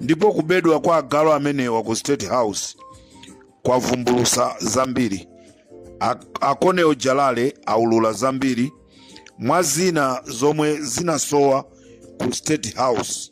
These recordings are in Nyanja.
ndipo kubedwa kwa agalu amenewa ku state house kwavumbulusa zambiri a Kaoneo Jalale aulula zambiri mwa zina zomwe zinasowa ku state house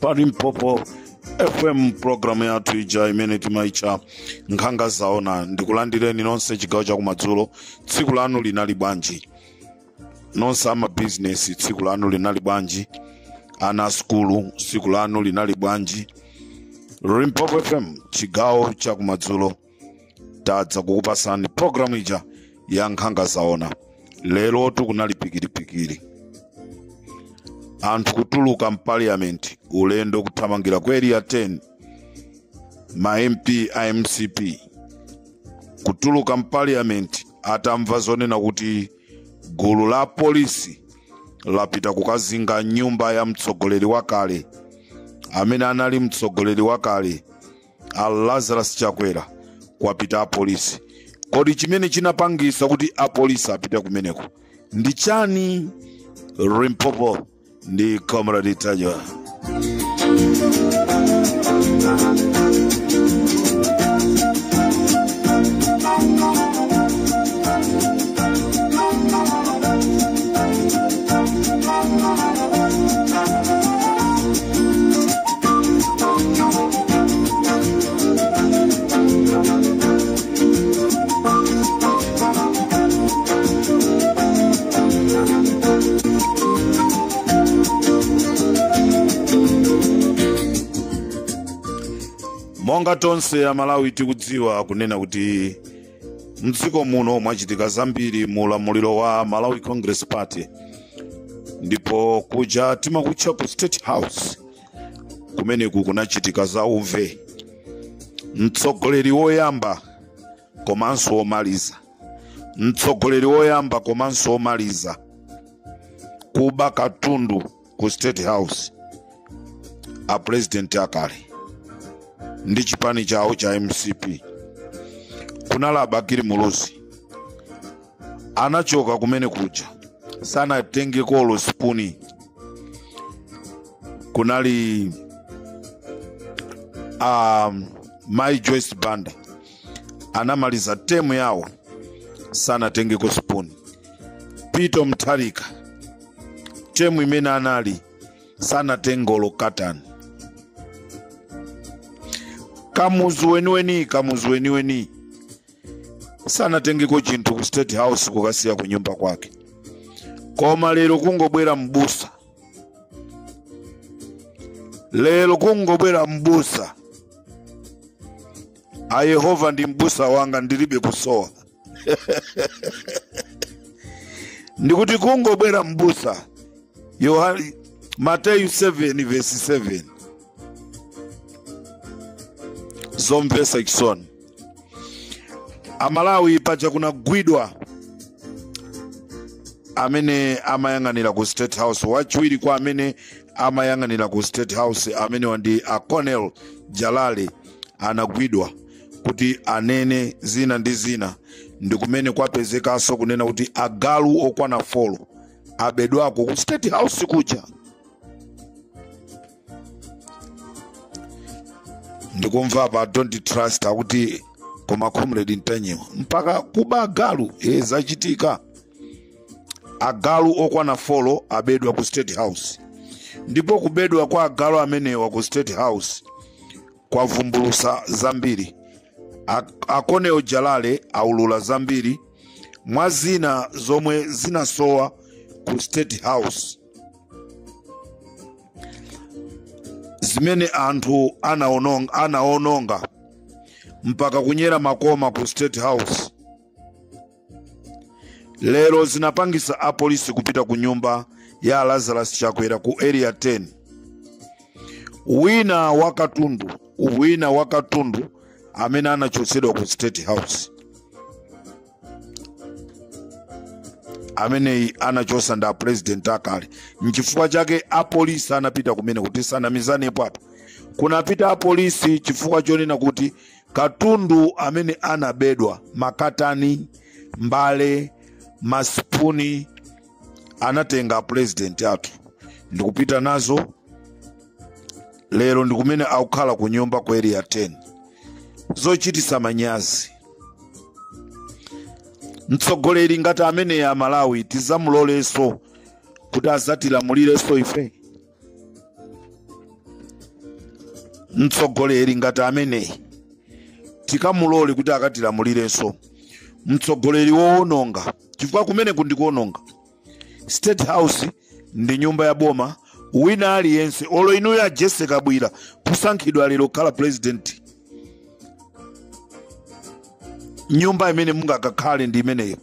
pa limpopo fm programu yathu ija imene timaitcha nkhanga zaona ndikulandireni nonse chigawo chakumadzulo tsiku lanu linali bwanji nonse amabizinesi tsiku lanu linali bwanji ana asukulu tsiku lanu linali bwanji limpopo fm chigawo chakumadzulo tadza kukupasani programu ija ya nkhanga zaona lerotu kunali pikiripikiri anthu kutuluka mpaliyamenti ulendo kuthamangira ku area 10 ma mp a mcp kutuluka mpaliyamenti atamva zonena kuti gulu la polisi lapita kukazinga nyumba ya mtsogoleri wakale amene anali mtsogoleri wakale a lazarus chakwera kwapita apolisi kodi chimene chinapangisa kuti apolisi apite kumeneko ndi chani limpopo ndi comrade ntanyiwa monga tonse amalawi tikudziwa kunena kuti mdziko muno mwachitika zambiri mu ulamuliro wa malawi congress party ndipo kuja timakutcha ku state house kumeneku kunachitika zauve mtsogoleri woyamba komanso womaliza mtsogoleri woyamba komanso womaliza kuba katundu ku state house a president akale ndi chipani chawo cha mcp kunali a bakili muluzi anachoka kumene kuja sanatengeko olo sipuni kunali um, mai joyce banda anamaliza temu yawo sanatengeko sipuni peter mtharika temu imene anali sanatenge olo katani kamuzu weniweni kamuzu weniweni sanatengeko chinthu ku state house kukasiya ku nyumba kwake koma lero kungobwera mbusa lero kungobwera mbusa Yehova ndi mbusa wanga ndilibe kusowa ndikuti kungobwera mbusa yohani mateyu 7 vesi 7 zomvesa chisoni amalawi paja kunagwidwa amene amayang'anira ku state house wachiwiri kwa amene amayang'anira ku state house amenewa ndi a colonel jalale anagwidwa kuti anene zina ndi zina ndi kumene kwapezekanso kunena kuti agalu okwana folo abedwako ku state house kuja ndikumva apa don't trust akuti koma comrade ntanyiwa mpaka kuba agalu e zachitika agalu okwana folo abedwa ku state house ndipo kubedwa kwa agalu amenewa ku state house kwavumbulutsa zambiri a colonel jalale aulula zambiri mwa zina zomwe zinasowa ku state house zimene anthu anaononga mpaka kunyera makoma ku state house lero zinapangisa apolisi kupita ku nyumba ya lazarus chakwera ku area 10 wina wa katundu amene anachotsedwa ku state house ameneyi anachotsa ndi apurezidenti akale nchifukwa chake apolisi anapita kumene kuti tisanamizanepo apa kunapita apolisi chifukwa chonena kuti katundu amene anabedwa makatani mbale masipuni anatenga apurezidenti athu ndikupita nazo lero ndikumene akukhala ku nyumba ku area 10 zochitisa manyazi mtsogoleri ngati ameneyi a malawi tizamulolenso kuti azatilamulirenso ife mtsogoleri ngati ameneyi tikamulole kuti akatilamulirenso mtsogoleri wowononga chifukwa kumeneku ndi kuononga state house ndi nyumba ya boma wina aliyense olo inuyo a jesse kabwila kusankhidwa lero kukhala president nyumba imene mungakakhale ndi imeneyo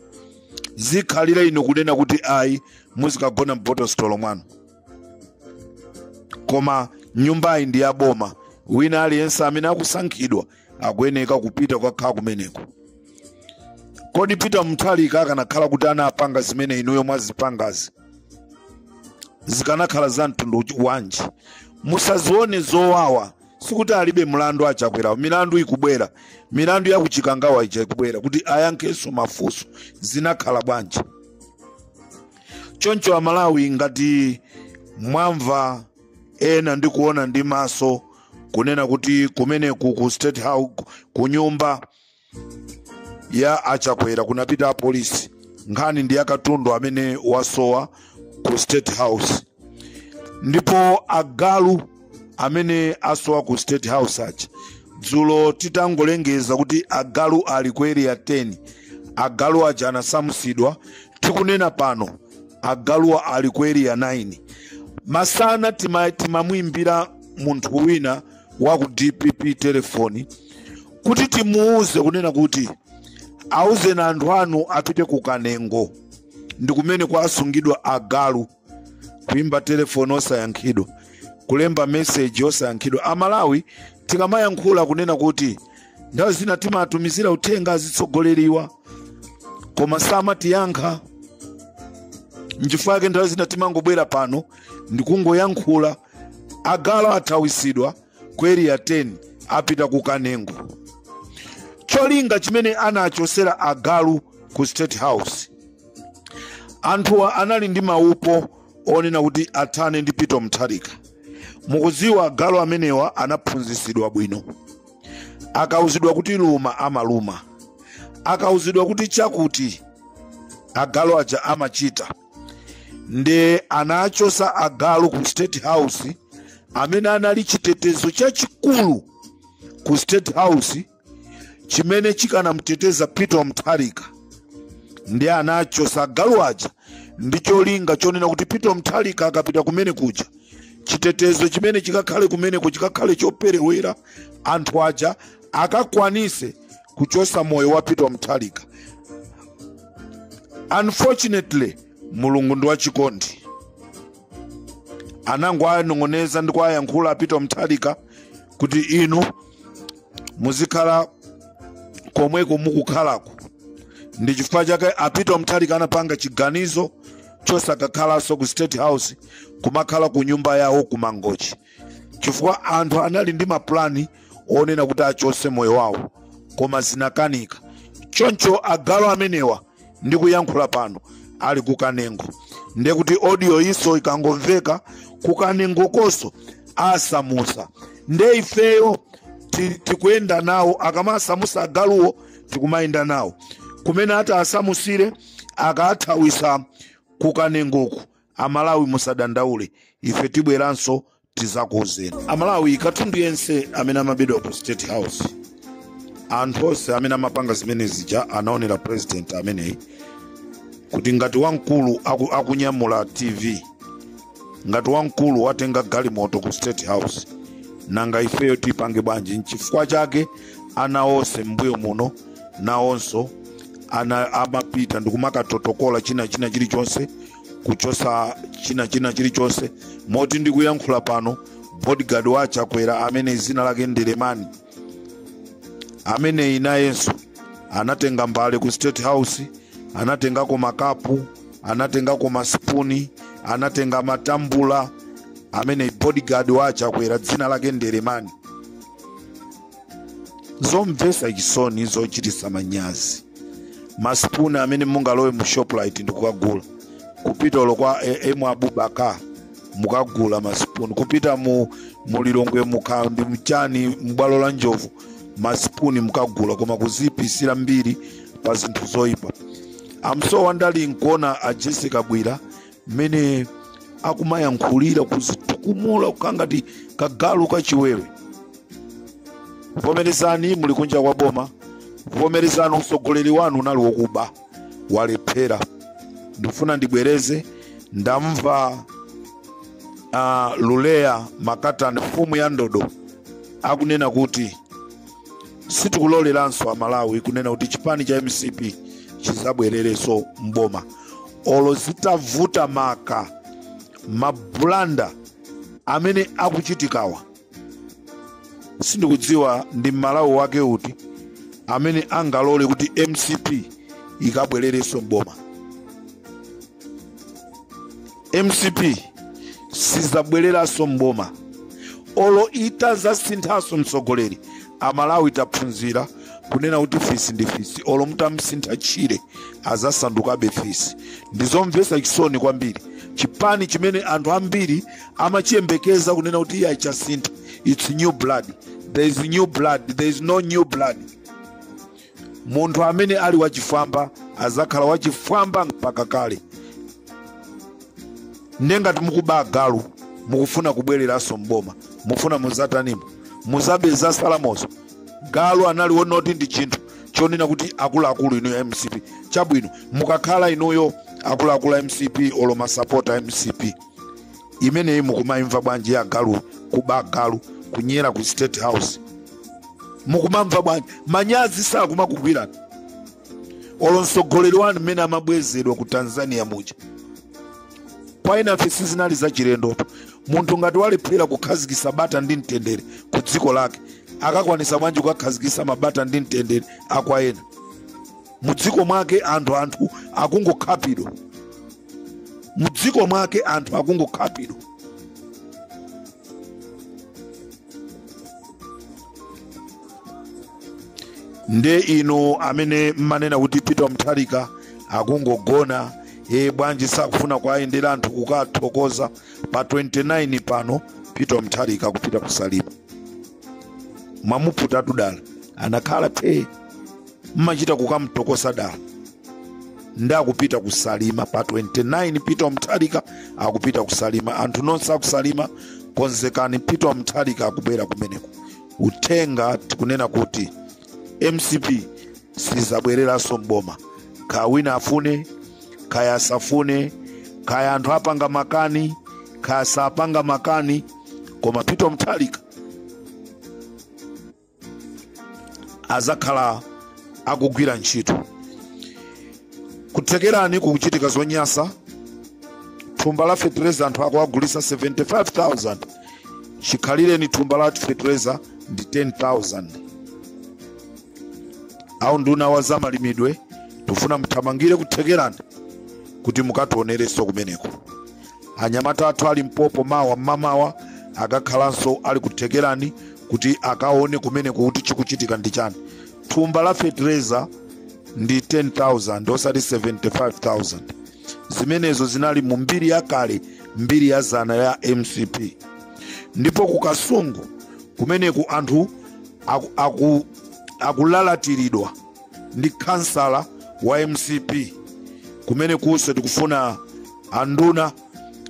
zikhalira inu kunena kuti ayi muzikagona mbotositolo mwanu koma nyumbayi ndi ya boma wina aliyense amene akusankhidwa akuyeneka kupita kukakhala kumeneko kodi peter mutharika akanakhala kuti anapanga zimene inuyo mwazipangazi zikanakhala za mtundu uchi- wanji musazione zowawa sikuti alibe mlandu achakwerawo milandu ikubwera milandu yakuchikangawa ija ikubwera kuti ayankhenso mafunso zinakhala bwanji choncho amalawi ngati mwamva ena ndikuona ndi maso kunena kuti kumeneku ku state house ku nyumba ya achakwera kunapita apolisi nkhani ndi yakatundu amene wasowa ku state house ndipo agalu amene asowa ku state house aja dzulo titangolengeza kuti agalu ali ku area 10 agalu aja anasamusidwa tikunena pano agaluwa ali ku area 9 masana tima- timamuimbira munthu wina wa ku dpp telefoni kuti timuuze kunena kuti auzeni anthu anu apite ku kanengo ndi kumene kwasungidwa agalu kuimba telefoni osayankhidwa kulemba meseji osayankhidwa amalawi tikamayankhula kunena kuti nthawi zina timatumizira uthenga azitsogoleriwa koma samatiyankha nchifukwa chake nthawi zina timangobwera pano ndikungoyankhula agalu athawisidwa ku area 10 apita ku kanengo cholinga chimene anachosera agalu ku state house anthuwa anali ndi maupo onena kuti athane ndi peter mutharika mukudziwa agalu amenewa anaphunzitsidwa bwino akauzidwa kuti luma amaluma akauzidwa kuti chakuti agalu aja amachita nde anachosa agalu ku state house amene anali chitetezo chachikulu ku state house chimene chikanamteteza peter mutharika nde anachosa agalu aja ndi cholinga chonena kuti peter mutharika akapita kumene kuja chitetezo chimene chikakhale kumeneko chikakhale choperewera anthu aja akakwanise kuchosa moyo wa peter mutharika unfortunately mulungu ndi wachikondi anangowanong'oneza ndi kuwayankhula a peter mutharika kuti inu muzikhala komweko mukukhalako ndi chifukwa chake a peter mutharika anapanga chiganizo chosakakhalanso ku state house kumakhala ku nyumba yawo ku mangochi chifukwa anthu anali ndi mapulani onena kuti achose moyo wawo koma zinakanika choncho agalu amenewa ndikuyankhula pano ali ku kanengo nde kuti audio iyi ikangomveka ku kanengokonso awasamusa nde ifeyo ti- tikuyenda nawo akamawasamusa agaluwo tikumayenda nawo kumene ati awasamusire akathawisa ku kanengoko amalawi musadandaule ife tibweranso tizakuuzeni amalawi katundu yense amene amabedwa ku state house anthu onse amene amapanga zimene zija anaonera purezidenti ameneyi kuti ngati wamkulu aku, akunyamula tv ngati wamkulu watenga galimoto ku state house nanga ifeyo tipange bwanji nchifukwa chake ana onse mbuyo muno nawonso ana amapita ndikumakatotokola china chilichonse kuchosa china chilichonse moti ndikuyankhula pano bodyguard wa chakwera ameneyi zina lake ndelemani ameneyi nayenso anatenga mbale ku state house anatengako makapu anatengako masipuni anatenga matambula ameneyi bodyguard wa chakwera dzina lake ndelemani zomvetsa chisoni zochititsa manyazi masipuni amene mungalowe mu shoprite ndikukagula kupita olo kwa m abubakar mukagula masipuni kupita mu lilongwe mukandi mchani m'bwalo la njovu masipuni mukagula koma kuziipisira mbiri pa zinthu zoyipa a msowandali nkuona a jessie kabwila mmene akumayankhulira kuzitukumula kukhala ngati kagalu ka chiwewe vomerezani muli kunja kwa boma vomerezani utsogoleri wanu unali wokuba walephera ndifuna ndibwereze ndamva uh, luleya makatani mfumu ya ndodo akunena kuti sitikuloleranso amalawi kunena kuti chipani cha mcp chizabwererenso m'boma olo zitavuta maka mabulanda amene akuchitikawa sindikudziwa ndi mmalawi wake uti amene angalole kuti mcp ikabwererenso m'boma mcp sizabwereranso mboma olo itazasinthanso mtsogoleri amalawi taphunzira kunena kuti fisi ndi fisi olo mutamsintha tchire azasandukabe fisi ndizomvetsa chisoni kwambiri chipani chimene anthu ambiri amachiyembekeza kunena kuti iya chasintha its new blood there is new blood there is no new blood munthu amene ali wachifwamba azakhala wachifwamba mpaka kale ndiye ngati mukuba agalu mukufuna kubwereranso mboma mufuna muzatanimbo muzabe za salamozo galu anali wonoti ndi chinthu chonena kuti akuluakulu inu a mcp chabwino mukakhala inuyo akuluakulu a mcp olo masapota a mcp imeneyi mukumayimva bwanji ya galu kuba galu kunyera ku state house mukumamva bwanji manyazi sakumakugwirani olo mtsogoleri wanu mmene amabwezedwa ku tanzania muja kwa enafe sizinali zachilendopo munthu ngati walephera kukhazikisa bata ndi mtendere ku dziko lake akakwanisa bwanji kukakhazikisa mabata ndi mtendere akwa ena mu dziko mwake anthu anthu akungokhapidwa mdziko mwake anthu akungokhapidwa nde inu amene mmanena kuti peter mutharika akungogona e bwanji sakufuna kuayendera anthu kukathokoza pa 29 pano peter mutharika akupita kusalima mwamuputatu dala anakhala phee mmachita kukamtokosa dala nde akupita kusalima pa 29 peter mutharika akupita kusalima anthu nonse akusalima konzekani peter mutharika akubwera kumeneko uthenga tikunena kuti mcp sizabwereranso mboma kaya wina afune kaya asafune kaya anthu apanga makani kaya sapanga makani koma peter mutharika azakhala akugwira ntchito ku thekerani kukuchitika zonyasa thumba la fetereza anthu akuwagulisa 75000 chikhalireni thumba la fetereza ndi 10000 awu nduna wa zamalimidwe tufuna muthamangire ku thekerani kuti mukationerenso kumeneko anyamata athu ali mpopo mawa mmamawa akakhalanso ali ku thekerani kuti akaone kumeneko kuti chikuchitika ndi chani thumba la fetereza ndi 10000 osati 75000 zimenezo zinali mu mbiri yakale mbiri ya zana ya mcp ndipo ku kasungu kumeneku anthu aku, aku, akulalatiridwa ndi kansala wa mcp kumenekunso tikufuna anduna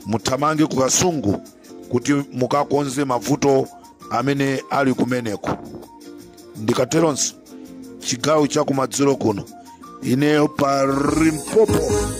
muthamange ku kasungu kuti mukakonze mavuto amene ali kumeneko ndikateronso chigawo cha kumadzulo kuno ineyo pa limpopo